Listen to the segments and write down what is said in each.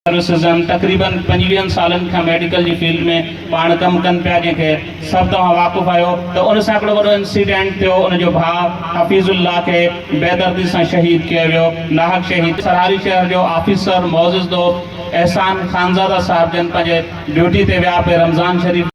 سرسزم تقريباً پنجويهن سالن کان ميڊيڪل جي فيلڊ ۾ پاڻ ڪم ڪن پيا جنهن کي سڀ توهان واقف آهيو ته ان سان هڪڙو وڏو انسيڊنٽ ٿيو ان جو ڀاء حفيظ الله کي بيدردي سان شهيد ڪيو ويو ناحق شهيد سرهاري شهر جو آفيسر معزز دوست احسان خانزاده صاحب جن پنهنجي ڊيوٽي تي ويا پي رمضان شريف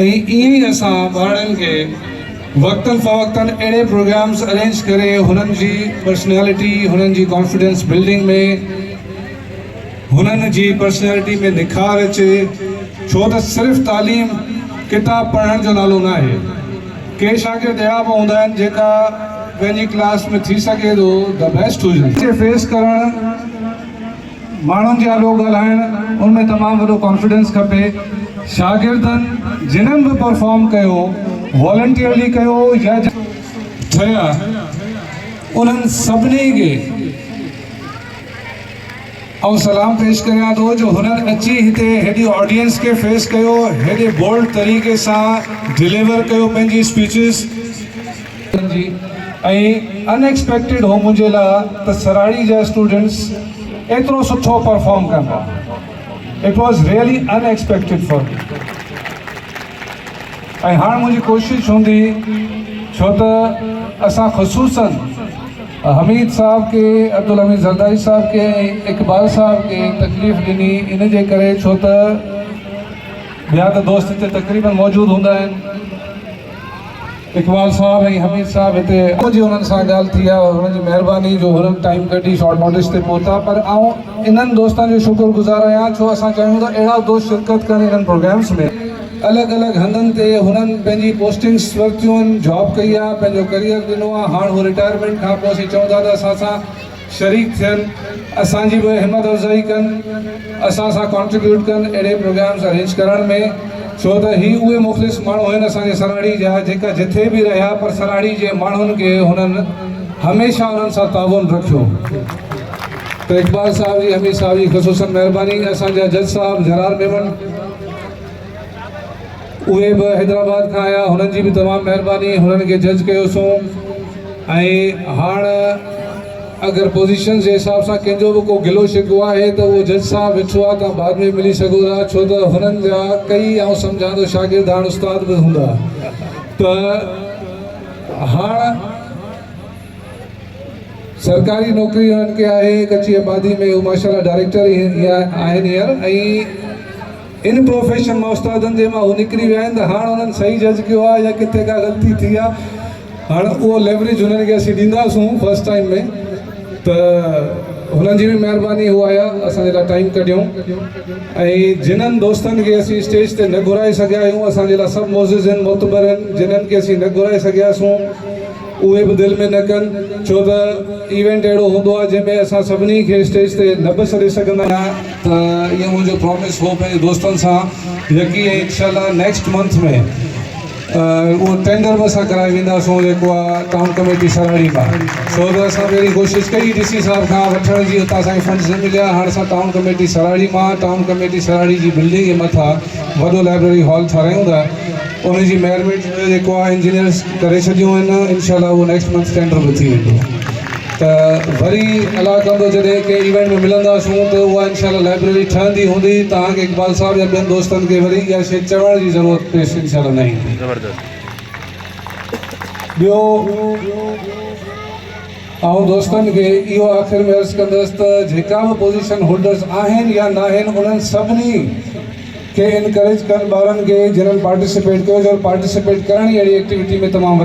۽ ائين ئي اسان ٻارڙن کي وقتن فوقتن اهڙي پروگرامز ارينج ڪري هنن جي پرسنالٽي، هنن جي ڪانفيڊنس بلڊنگ ۾ هنن جي پرسنالٽي ۾ نکار اچي ڇو ته صرف تعليم ڪتاب پڙهڻ جو نالو ناهي. ڪي شاگرد اهڙا به هوندا آهن جيڪا پنهنجي ڪلاس ۾ ٿي سگهي ٿو The Best هجن. کي فيس ڪرڻ. ماڻهن جي آڏو ڳالهائڻ ان ۾ تمام وڏو ڪانفيڊنس کپي شاگردن جنھن به پرفارم ڪيو والنٽيئرلي ڪيو يا ٺهيا انهن سڀني کي آئون سلام پيش ڪريان ٿو جو هنن اچي هتي هيڏي آڊينس کي فيس ڪيو هيڏي بولڊ طريقي سان ڊليور ڪيو پنهنجي اسپيچز ڪرڻ جي ۽ ان ايڪسپيڪٽيڊ هو منهنجي لاء ته سراڙي جا اسٽوڊنٽس ايترو سٺو پرفارم ڪندا it was really unexpected for me ۽ هاڻ منهنجي ڪوشش هوندي ڇو ته اسان خصوصن حميد صاحب کي عبدالحميد زرداري صاحب کي اقبال صاحب کي تڪليف ڏني ان جي ڪري ڇو ته ٻيا ته دوست هتي تقريبن موجود هوندا آهن اقبال صاحب ۽ حميد صاحب هتي اڄ جي انهن سان ڳالهه ٿي آهي انهن جي مهرباني جو هرن ٽائيم ڪڍي شارٽ نوٽس تي پهتا پر آئون انهن دوستن جو شڪر گذار آهيان ڇو اسان چاهيون ٿا اهڙا دوست شرڪت ڪن انهن پروگرامس ۾ الڳ الڳ هنڌن تي هنن پنهنجي پوسٽنگس ورتيون آهن جاب ڪئي آهي پنهنجو ڪريئر ڏنو آهي هاڻ هو رٽائرمينٽ کانپوء اسين چئون ٿا ته اسان سان شريڪ ٿين اسان جي به همت افزائي ڪن اسان سان ڪنٽريبيوٽ ڪن اهڙي پروگرامز ارينج ڪرڻ ۾ ڇو ته هي اهي مخلص ماڻهو آهن اسان جي سراڙي جا جيڪا جٿي به رهيا پر سراڙي جي ماڻهن کي هنن هميشه انهن سان تعاون رکيو ته اقبال صاحب جي حميد صاحب جي خصوصن مهرباني اسان جا جج صاحب جرار ميمڻ. اهي به حيدرآباد کان آيا هنن جي به تمام مهرباني هنن کي جج ڪيو سون ۽ هاڻ اگر پوزيشنز جي حساب سان ڪنهن جو به ڪو گلو شڪوو آهي ته اهو جج صاحب ويٺو آهي تان بعد ۾ ملي سگهو ٿا ڇو ته هنن جا ڪئي آئون سمجهان ٿو شاگرد هاڻ استاد به هوندا ته هاڻ سرڪاري نوڪري هنن کي آهي ڪچي آبادي ۾ هو ماشاءالله ڊائريڪٽر آهن هينئر ۽ ان پروفيشن مان استادن جي مان هو نڪري ويا آهن ته هاڻ انهن صحيح جج ڪيو آهي يا ڪٿي ڪا غلطي ٿي آهي هاڻ اهو ليوريج هنن کي اسين ڏينداسون فرسٽ ٽائيم ۾ ته هنن جي به مهرباني هو آيا اسان جي لاء ٽائيم ڪڍيون ۽ جنهن دوستن کي اسين اسٽيج تي نه گهرائي سگهيا آهيون اسان جي لاء سڀ معزز آهن معتبر آهن جنهن کي اسين نه گهرائي سگهياسون اهي به دل ۾ نه ڪن ڇو ته ايونٽ اهڙو هوندو آهي جنهن ۾ اسان سڀني کي اسٽيج تي نه به سڏي سگهندا آهيون ته اهو منهنجو پرامس هو پنهنجي دوستن سان يقين ۽ انشاء الله نيڪسٽ منٿ ۾ اهو ٽينڊر به اسان ڪرائي وينداسون جيڪو آهي ٽائون ڪميٽي سراڙي مان ڇو ته اسان به اهڙي ڪوشش ڪئي ڊي سي صاحب کان وٺڻ جي اتان اسانکي فنڊز نه مليا هاڻ اسان ٽائون ڪميٽي سراڙي مان ٽائون ڪميٽي سراڙي جي بلڊنگ جي مٿا وڏو لائبرري هال ٺارايون ٿا ان جي ميرمينٽ جيڪو آهي انجنيئرز ڪري ڇڏيون آهن انشاء الله اهو نيڪسٽ منٿ ٽينڊر به ٿي ويندو ته وري الله ڪندو جڏهن ڪنهن ايونٽ ۾ ملنداسون ته اها انشاء الله لائبريري ٺهندي هوندي توهان کي اقبال صاحب يا ٻين دوستن کي وري اها شيء چوڻ جي ضرورت پيش انشاء الله نه ايندي. ٻيو آئون دوستن کي اهو آخر ۾ عرض ڪندس ته جيڪا به پوزيشن هولڊرز آهن يا ناهن انهن سڀني کي انڪريج ڪن ٻارن کي جنهن پارٽيسپيٽ ڪيو ته پارٽيسپيٽ ڪرڻ ئي اهڙي ايڪٽيوٽي ۾ تمام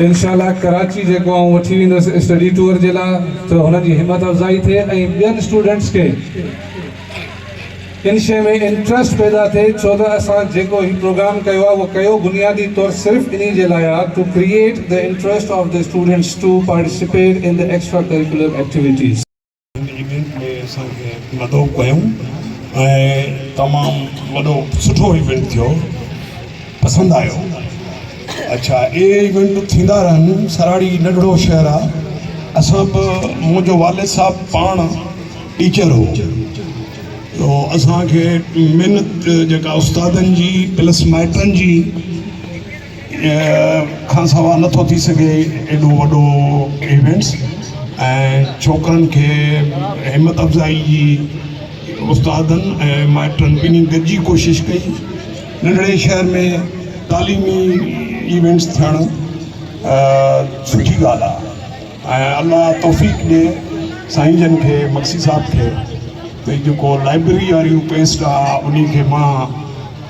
انشاء الله ڪراچي جيڪو آئون وٺي ويندس اسٽڊي ٽوئر جي لاء ته هنن جي همت افزائي ٿئي ۽ ٻين اسٽوڊنٽس کي ان شيء ۾ انٽرسٽ پيدا ٿئي ڇو ته اسان جيڪو هي پروگرام ڪيو آهي اهو ڪيو بنيادي طور صرف انهي جي لاء آهي to create the interest of the students to participate in the extra curricular activities. هن ايونٽ ۾ اسان کي مدعو ڪيون ۽ تمام وڏو سٺو ايونٽ ٿيو پسند آيو اڇا اهي ايونٽ ٿيندا رهن سراڙي ننڍڙو شهر آ اسان به منهنجو والد صاحب پاڻ ٽيچر هو تو اسان کي محنت جيڪا استادن جي پلس مائٽن جي کان سوا نٿو ٿي سگهي ايڏو وڏو ايونٽس ۽ ڇوڪرن کي همت افزائي جي استادن ۽ مائٽن ٻنهي گڏجي ڪوشش ڪئي ننڍڙي شهر ۾ تعليمي ايونٽس ٿيڻ سٺي ڳالهه آهي ۽ الله توفيق ڏي سائين جن کي مگسي صاحب کي ڀئي جيڪو لائبريري واري پيسٽ آهي ان کي مان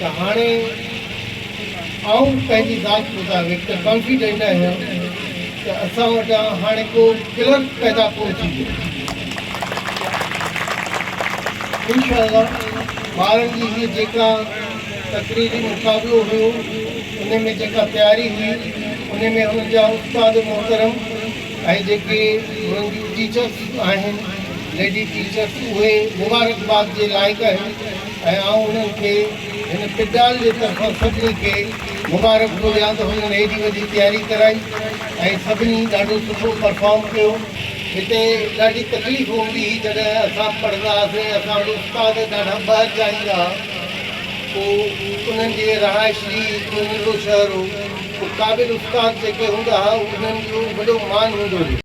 ته هاڻي آئون پنهنجي ذات مطابق ته ڪانفيڊنٽ آهيان ته اسان وٽان هاڻي ڪو ڪلرڪ پيدا ڪونه ٿيندو. انشاء الله ٻارن جي هيء جيڪا تقريري مقابلو هيو ان ۾ جيڪا تياري هئي ان ۾ هنن جا استاد محترم ۽ جيڪي هنن جون ٽيچرس آهن ليڊي ٽيچرس اهي مبارڪباد جي لائق آهن. ۽ آئون انهن کي هن پڊال جي طرفان سڀني کي مبارڪ ٿو ڏيان ته هنن هيڏي وڏي تياري ڪرائي ۽ سڀني ڏاڍو سٺو پرفارم ڪيو هتي ڏاڍي تڪليف هوندي هئي جڏهن اسان پڙهندا هئاسين ۽ اسان وٽ استاد ڏاڍا ٻاهر جا ايندا ها پوء انهن جي رهائش جي هڪڙو ننڍڙو شهر هو پوء قابل استاد جيڪي هوندا ها انهن جو وڏو مان هوندو هو.